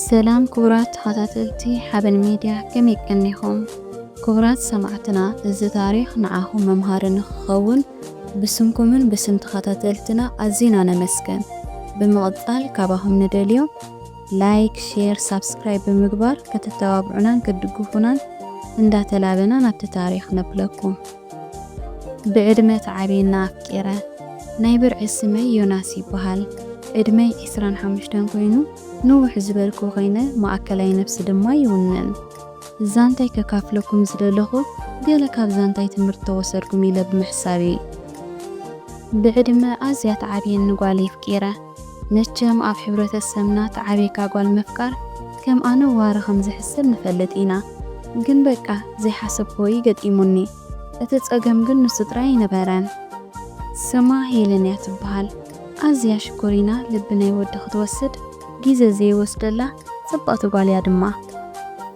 ሰላም ክቡራት ተኸታተልቲ ሓበን ሚድያ ከመይ ቀኒኹም? ክቡራት ሰማዕትና እዚ ታሪኽ ንዓኹም መምሃሪ ንኽኸውን ብስምኩምን ብስም ተኸታተልትና ኣዚና ነመስገን። ብምቕጻል ካባኹም ንደልዮ ላይክ፣ ሼር፣ ሳብስክራይብ ብምግባር ከተተባብዑናን ክትድግፉናን እንዳተላበና ናብቲ ታሪኽ ነፕለኩም። ብዕድመ ተዓብየና ኣፍቂረ። ናይ ብርዒ ስመይ ዮናስ ይበሃል። ዕድመይ ዕስራን ሓሙሽተን ኮይኑ ንውሕ ዝበልኩ ኮይነ ማእከላይ ነብሲ ድማ ይውንን። ዛንታይ ከካፍለኩም ዝደለኹ ገለ ካብ ዛንታይ ትምህርቲ ተወሰድኩም ኢለ ብምሕሳብ እዪ። ብዕድመ ኣዝያ ትዓብየኒ ጓል የፍቂረ። መቸም ኣብ ሕብረተሰብና ተዓብይካ ጓል ምፍቃር ከም ኣነዋሪ ከም ዝሕሰብ ንፈልጥ ኢና ግን በቃ ዘይሓሰብክዎ እዩ ገጢሙኒ እቲ ጸገም ግን ንሱ ጥራይ ኣይነበረን። ስማ ሄለን እያ ትብሃል ኣዝያ ሽኮሪና ልቢ ናይ ወዲ ክትወስድ ግዜ ዘይወስደላ ጽብቕቲ ጓል እያ ድማ።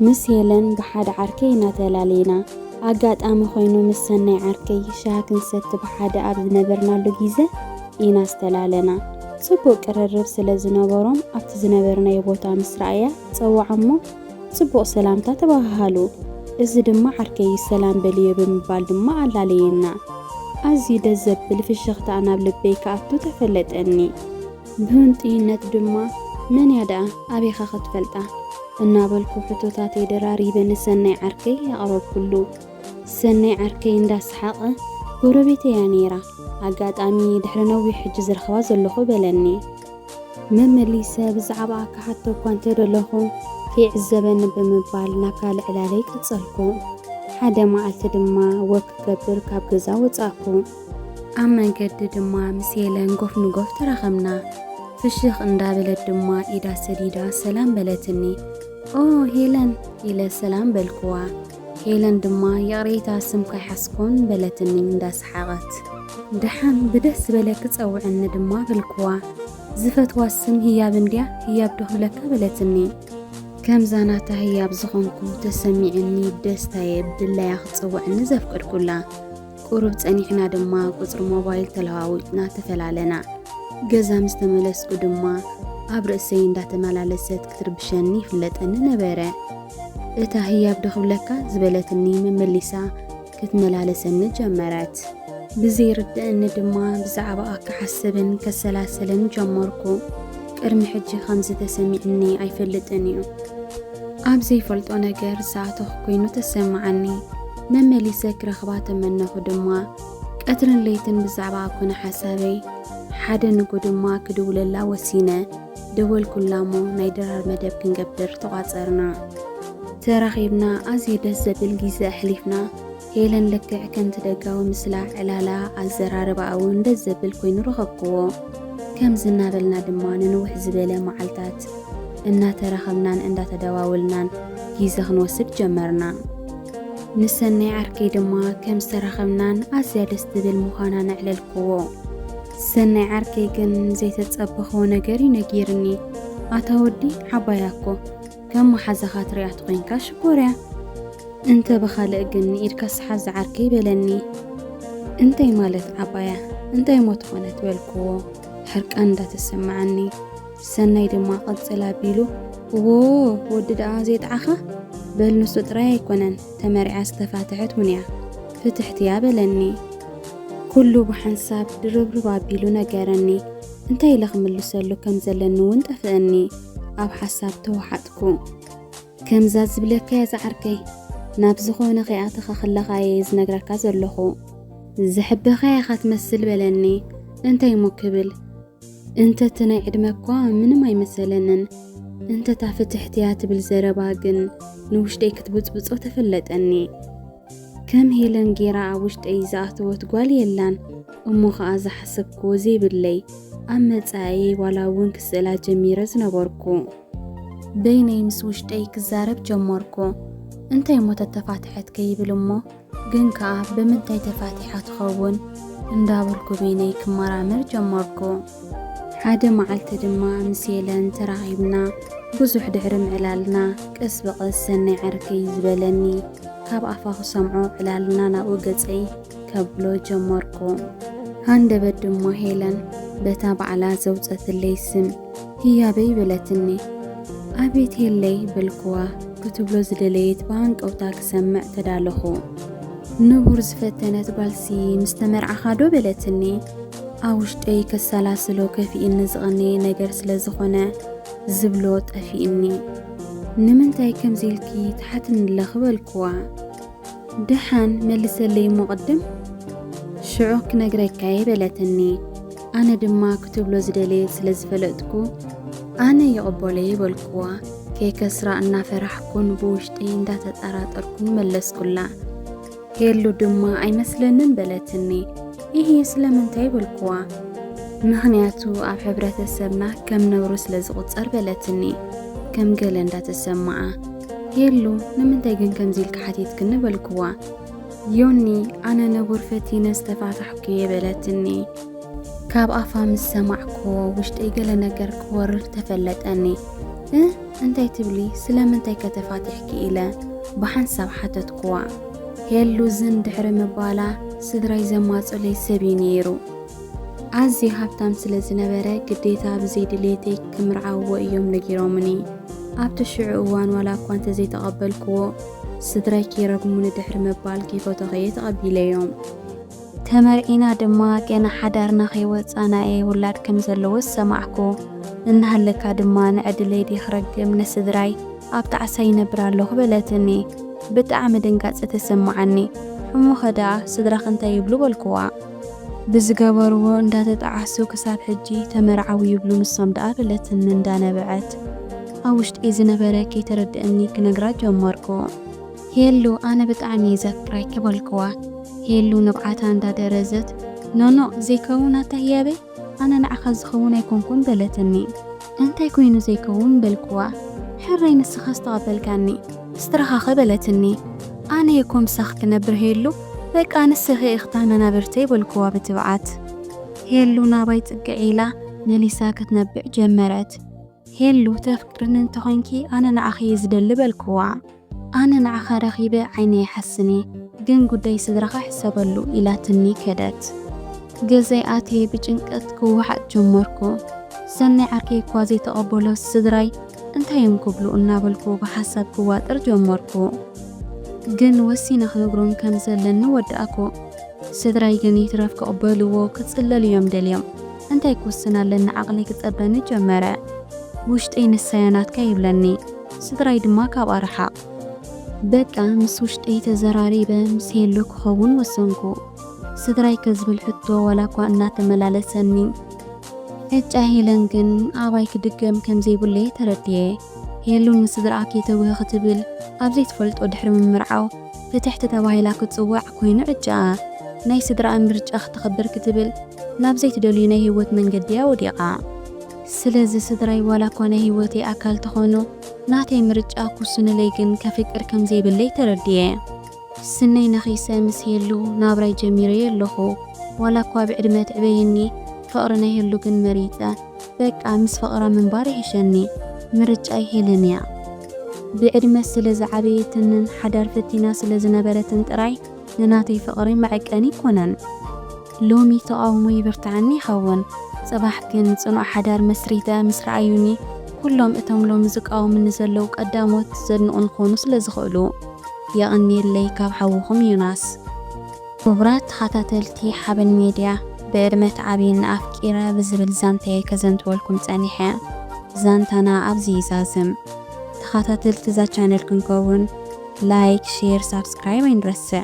ምስ ሄለን ብሓደ ዓርከይ ኢና ተላሊና ኣጋጣሚ ኮይኑ ምስ ሰናይ ዓርከይ ሻሂ ክንሰቲ ብሓደ ኣብ ዝነበርናሉ ግዜ፣ ኢና ዝተላለና። ጽቡቕ ቅርርብ ስለ ዝነበሮም ኣብቲ ዝነበርናዮ ቦታ ምስ ረኣያ ጸውዓ እሞ ጽቡቕ ሰላምታ ተበሃሃሉ። እዚ ድማ ዓርከይ ሰላም በልዮ ብምባል ድማ ኣላለየና። ኣዝዩ ደስ ዘብል ፍሽኽታ ናብ ልበይ ክኣቱ ተፈለጠኒ። ብህንጡይነት ድማ መን እያ ደኣ ኣበይካ ክትፈልጣ? እናበልኩ ሕቶታተይ ደራሪበ ንሰናይ ዓርከይ ኣቕረብኩሉ። ሰናይ ዓርከይ እንዳ ሰሓቐ፣ ጎረቤተይ እያ ነይራ፣ ኣጋጣሚ ድሕሪ ነዊሕ ሕጂ ዝረኽባ ዘለኹ በለኒ። መመሊሰ ብዛዕባኣ ክሓቶ እኳ እንተ ደለኹ፣ ከይዕዘበኒ ብምባል ናብ ካልእ ዕላለይ ቀጸልኩ። ሓደ መዓልቲ ድማ ወክ ክገብር ካብ ገዛ ወጻእኩ። ኣብ መንገዲ ድማ ምስ ሄለን ጎፍ ንጎፍ ተራኸብና። ፍሽኽ እንዳበለት ድማ ኢዳ ሰዲዳ ሰላም በለትኒ። ኦ ሄለን ኢለ ሰላም በልኩዋ። ሄለን ድማ ይቕሬታ ስም ከይሓዝኩን በለትኒ እንዳ ሰሓቐት። ደሓን ብደስ ዝበለኪ ጸውዕኒ ድማ በልክዋ። ዝፈትዋ ስም ህያብ እንድያ ህያብ ዶ ክብለካ በለትኒ። ከምዛ ናታ ህያብ ዝኾንኩ ተሰሚዕኒ ብደስታየ ብድላያ ክትጽውዕኒ ዘፍቀድኩላ። ቁሩብ ጸኒሕና ድማ ቁጽሪ ሞባይል ተለዋዊጥና ተፈላለና። ገዛ ምስ ተመለስኩ ድማ ኣብ ርእሰይ እንዳተመላለሰት ክትርብሸኒ ይፍለጠኒ ነበረ። እታ ህያብ ዶ ክብለካ ዝበለትኒ መመሊሳ ክትመላለሰኒ ጀመረት። ብዘይርድእኒ ድማ ብዛዕባኣ ክሓስብን ከሰላስልን ጀመርኩ። ቅድሚ ሕጂ ከምዚ ተሰሚዕኒ ኣይፈልጥን እዩ። ኣብ ዘይፈልጦ ነገር ዝኣተኹ ኮይኑ ተሰማዓኒ። መመሊሰ ክረኽባ ተመነኹ ድማ። ቀትርን ለይትን ብዛዕባኣ ኮነ ሓሳበይ። ሓደ ንጉ ድማ ክድውለላ ወሲነ። ደወልኩላ እሞ ናይ ድራር መደብ ክንገብር ተቋጸርና። ተራኺብና ኣዝዩ ደስ ዘብል ግዜ ኣሕሊፍና። ሄለን ልክዕ ከምቲ ደጋዊ ምስላ፣ ዕላላ፣ ኣዘራርባኣ እውን ደስ ዘብል ኮይኑ ረኸብክዎ። ከምዚ እናበልና ድማ ንንውሕ ዝበለ መዓልታት እናተራኸብናን እንዳተደዋወልናን ግዜ ክንወስድ ጀመርና። ንሰናይ ዓርከይ ድማ ከም ዝተራኸብናን ኣዝያ ደስ ትብል ምዃናን ኣዕለልክዎ። ሰናይ ዓርከይ ግን ዘይተጸበኸዎ ነገር እዩ ነጊርኒ። ኣታ ወዲ ዓባያ እኮ ከም መሓዛኻ ትሪኣ ተኾይንካ ሽኮርያ እንተ ብኻልእ ግን ኢድካ ስሓዝ ዓርከይ በለኒ። እንታይ ማለት ዓባያ እንታይ ሞት ኾነት በልክዎ ሕርቃን እንዳተሰማዓኒ ሰናይ ድማ ቐጽል ኣቢሉ እዎ ወዲ ደኣ ዜጥዓኻ በል ንሱ ጥራይ ኣይኮነን ተመሪዓ ዝተፋትሐት እውን እያ ፍትሕቲ እያ በለኒ ኩሉ ብሓንሳብ ድርብርብ ኣቢሉ ነገረኒ እንታይ ኢለ ክምልሰሉ ከም ዘለኒ እውን ጠፍአኒ ኣብ ሓሳብ ተዋሓጥኩ ከምዛ ዝብለካ እያ ዝዓርከይ ናብ ዝኾነ ከይኣተኻ ከለኻ እየ ዝነግረካ ዘለኹ ዘሕበኻ ኢኻ ትመስል በለኒ እንታይ እሞ ክብል እንተቲ ናይ ዕድመ እኳ ምንም ኣይመሰለንን እንተታ ፍትሕትያ ትብል ዘረባ ግን ንውሽጠይ ክትብፅብፆ ተፈለጠኒ ከም ሄለን ጌራ ኣብ ውሽጠይ ዝኣተወት ጓል የላን እሞ ኸዓ ዝሓሰብክዎ ዘይብለይ ኣብ መፃእየይ ዋላ እውን ክስእላ ጀሚረ ዝነበርኩ በይነይ ምስ ውሽጠይ ክዛረብ ጀመርኩ እንታይ እሞ ተተፋትሐት ከይብል እሞ ግን ከኣ ብምንታይ ተፋቲሓ ትኸውን እንዳበልኩ በይነይ ክመራመር ጀመርኩ። ሓደ መዓልቲ ድማ ምስ ሄለን ተራኺብና ብዙሕ ድሕሪ ምዕላልና ቀስ ብቐስ ሰናይ ዓርኪ ዝበለኒ ካብ ኣፋ ክሰምዖ ዕላልና ናብኡ ገጸይ ከብሎ ጀመርኩ። ሃንደበት ድማ ሄለን በታ ባዕላ ዘውጸትለይ ስም ህያበይ በለትኒ። ኣቤት ሄለይ በልኩዋ። ክትብሎ ዝደለየት ብሃንቀውታ ክሰምዕ ተዳለኹ። ንቡር ዝፈተነት ጓልሲ ምስ ተመርዓኻ ዶ በለትኒ። ኣብ ውሽጠይ ከሰላስሎ ከፊእኒ ዝቐነየ ነገር ስለ ዝኾነ ዝብሎ ጠፊእኒ። ንምንታይ ከምዚ ኢልኪ ትሓትኒ ኣለኺ በልኩዋ። ደሓን መልሰለይ እሞ ቅድም ሽዑ ክነግረካየ በለትኒ። ኣነ ድማ ክትብሎ ዝደለየ ስለ ዝፈለጥኩ ኣነ ይቕበሎየ በልኩዋ። ከይከስራ እናፈራሕኩን ብውሽጢ እንዳተጠራጠርኩን መለስኩላ። ሄሉ ድማ ኣይመስለንን በለትኒ። ይህ ስለምንታይ በልኩዋ። ምኽንያቱ ኣብ ሕብረተሰብና ከም ነውሪ ስለ ዝቑጸር በለትኒ ከም ገለ እንዳተሰማዓ የሉ ንምንታይ ግን ከምዚ ኢልካ ሓቲትክኒ በልክዋ ዮኒ ኣነ ንቡር ፈቲነ ዝተፋታሕኩ እየ በለትኒ ካብ ኣፋ ምስ ሰማዕክዎ ውሽጠይ ገለ ነገር ክወርር ተፈለጠኒ እ እንታይ ትብሊ ስለምንታይ ከተፋቲሕኪ ኢለ ብሓንሳብ ሓተትክዋ ሄሉ ዝን ድሕሪ ምባላ ስድራይ ዘማፀለይ ሰብ እዩ ነይሩ ኣዝየ ሃብታም ስለ ዝነበረ ግዴታ ብዘይ ድሌተይ ክምርዓዎ እዮም ነጊሮምኒ። ኣብቲ ሽዑ እዋን ዋላ እኳ እንተዘይተቐበልክዎ፣ ስድራይ ከይረግሙኒ ድሕሪ ምባል ከይፈተኹ'የ ተቐቢለዮም። ተመርዒና ድማ ገና ሓዳርና ከይወጻና'የ ውላድ ከም ዘለዎ ዝሰማዕኩ። እናሃለካ ድማ ንዕድለይ ድየ ክረግም ንስድራይ ኣብ ጣዕሳ ይነብር ኣለኹ በለትኒ። ብጣዕሚ ድንጋጸ ተሰማዓኒ። እሞኸ ደኣ ስድራኺ እንታይ ይብሉ በልክዋ። ብዝገበርዎ እንዳተጠዓሱ ክሳብ ሕጂ ተመርዓው ይብሉ ንሶም ደኣ በለትኒ እንዳነበዐት ኣብ ውሽጢ ዝነበረ ከይተረደኣኒ ክነግራ ጀመርኩ። ሄሉ ኣነ ብጣዕሚ እየ ዘፍቅረኪ በልክዋ ሄሉ ንብዓታ እንዳደረዘት ኖኖእ ዘይከውን ኣታ ህያበይ ኣነ ንዓኻ ዝኸውን ኣይኮንኩን በለትኒ። እንታይ ኮይኑ ዘይከውን በልክዋ። ሕራይ ንስኻስ ተቐበልካኒ። ስትረኻኸ በለትኒ። ኣነየ እኮ ምሳኺ ክነብር ሄሉ በቃ ንስኺ ኢኺ ተመናብርተይ በልክዋ ብትብዓት። ሄሉ ናባይ ጽግዕ ኢላ መሊሳ ክትነብዕ ጀመረት። ሄሉ ተፍቅርኒ እንተኾይንኪ ኣነ ንዓኺ እየ ዝደሊ በልክዋ። ኣነ ንዓኻ ረኺበ ዓይነይ ይሓስን'የ ግን ጉዳይ ስድራኻ ሕሰበሉ ኢላትኒ ከደት። ገዛይ ኣትየ ብጭንቀት ክወሓጥ ጀመርኩ። ሰናይ ዓርከይ'ኳ ዘይተቐበሎስ ስድራይ እንታይ እዮም ክብሉ እናበልኩ ብሓሳብ ክዋጠር ጀመርኩ። ግን ወሲነ ክነግሮም ከም ዘለኒ ወዳእኩ። ስድራይ ግን ይትረፍ ክቕበልዎ ክጽለሉ እዮም ደልዮም። እንታይ ክውስን ኣለኒ ዓቕለይ ክጸበኒ ጀመረ። ውሽጠይ ንሳያ ናትካ ይብለኒ፣ ስድራይ ድማ ካብኣ ርሓቕ። በቃ ምስ ውሽጠይ ተዘራሪበ ምስ ሄሉ ክኸውን ወሰንኩ። ስድራይ ከ ዝብል ሕቶ ዋላኳ እናተመላለሰኒ ዕጫ ሄለን ግን ኣባይ ክድገም ከምዘይብሉ'የ ተረዲኤ። ሄሉ ንስድራኣ ከይተውህ ክትብል ኣብ ዘይትፈልጦ ድሕሪ ምምርዓው ፍትሕቲ ተባሂላ ክትጽዋዕ ኮይኑ ዕጫኣ። ናይ ስድራኣ ምርጫ ክተኽብር ክትብል ናብ ዘይትደልዩ ናይ ህይወት መንገዲ እያ ወዲቓ። ስለዚ ስድራይ ዋላኳ ናይ ህይወተይ ኣካል ተኾኑ ናተይ ምርጫ ክውስኑለይ ግን ከፍቅር ከምዘይብለይ ተረዲኤ። ስነይ ነኺሰ ምስ ሄሉ ናብራይ ጀሚረዮ ኣለኹ ዋላ እኳ ብዕድመ ትዕበየኒ ፍቕሪ ናይ ሄሉ ግን መሪጸ በቃ ምስ ፍቕራ ምንባር ይሕሸኒ ምርጫይ ሄለን እያ ብዕድመ ስለ ዝዓበየትንን ሓዳር ፈቲና ስለ ዝነበረትን ጥራይ ንናተይ ፍቕሪ መዐቀኒ ኣይኮነን። ሎሚ ተቓውሞ ይብርትዓኒ ይኸውን፣ ጽባሕ ግን ጽኑዕ ሓዳር መስሪተ ምስ ረኣዩኒ፣ ኩሎም እቶም ሎሚ ዝቃወሙኒ ዘለዉ ቀዳሞት ዘድንቑኒ ክኾኑ ስለ ዝኽእሉ። የቐንየለይ ካብ ሓውኹም ዮናስ። ክቡራት ተኻታተልቲ ሓበን ሜድያ ብዕድመ ትዓብይኒ ኣፍቂረ ብዝብል ዛንታየ ከዘንትወልኩም ጸኒሐ ዛንታና ኣብዚ ይዛዝም ተኻታተልቲ እዛ ቻነል ክንከውን ላይክ ሼር ሳብስክራይብ ኣይንረስዕ።